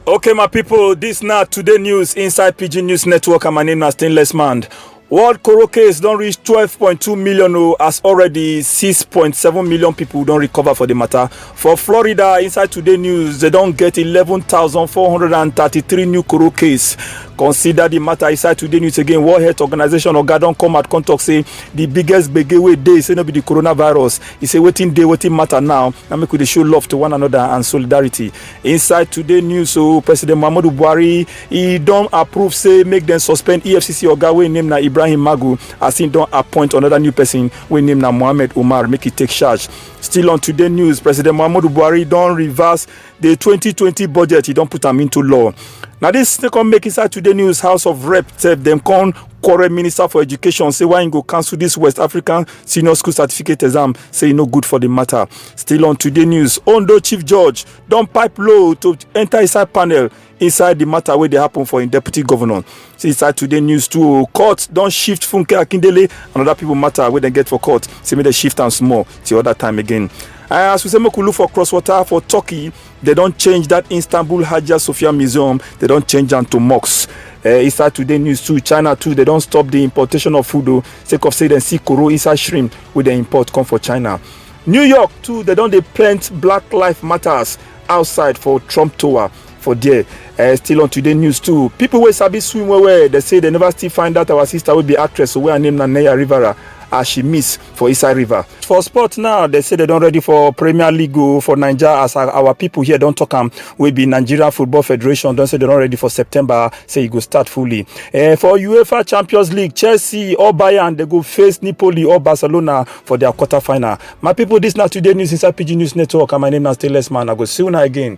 Okay, my people, this now today news inside PG News Network, and my name is Stainless Man. World Coro case don reach 12.2 million o as already 6.7 million people don recover for the matter. For Florida, inside today news, they don get 11,433 new Coro case. Consider the matter inside today news again. World Health Organization oga don come out come talk say the biggest gbege wey dey say no be the coronavirus. E say wetin dey wetin matter now na make we dey show love to one another and solidarity. inside today news so president muhammadu buhari e don approve say make dem suspend efcc oga wey name na ibrahim magu as im don appoint another new person wey name na mohammed umar make e take charge still on today news president muhammadu buhari don reverse the 2020 budget e don put am into law na dis dey come make inside today news house of rep sef dem come quarrel minister for education say why im go cancel dis west african senior school certificate exam say e no good for di matter Still on today news, Ondo Chief Judge don pipe low to enter inside panel inside the matter wey dey happen for im deputy governor. See inside today news too, court don shift Funke Akindele and other people matter wey dem get for court, say make dem shift am small till other time again. Uh, as we say make we look for cross water for Turkey, they don change that Istanbul Hagia Sophia Museum, they don change am to mosque. Uh, inside today news too, China too, they don stop the importation of food o, sake of say dem see koro inside shrimp wey dem import come for China. new york too dem don dey pent black life matters outside for trump tower for there uh, still on today news too people wey sabi swim well well dey say dem never still find out our sister wey be actress wey her name na neya rivera as she miss for inside river. For sport now, they say they don ready for Premier League o for Naija as our, our people here don talk am wey be Nigeria Football Federation don say they don ready for September say e go start fully. Eh, for UEFA Champions League, Chelsea or Bayern dey go face Napoli or Barcelona for their quarter final. My people, this now today news inside PG News Network, and my name is Stainless Man. I go see you now again.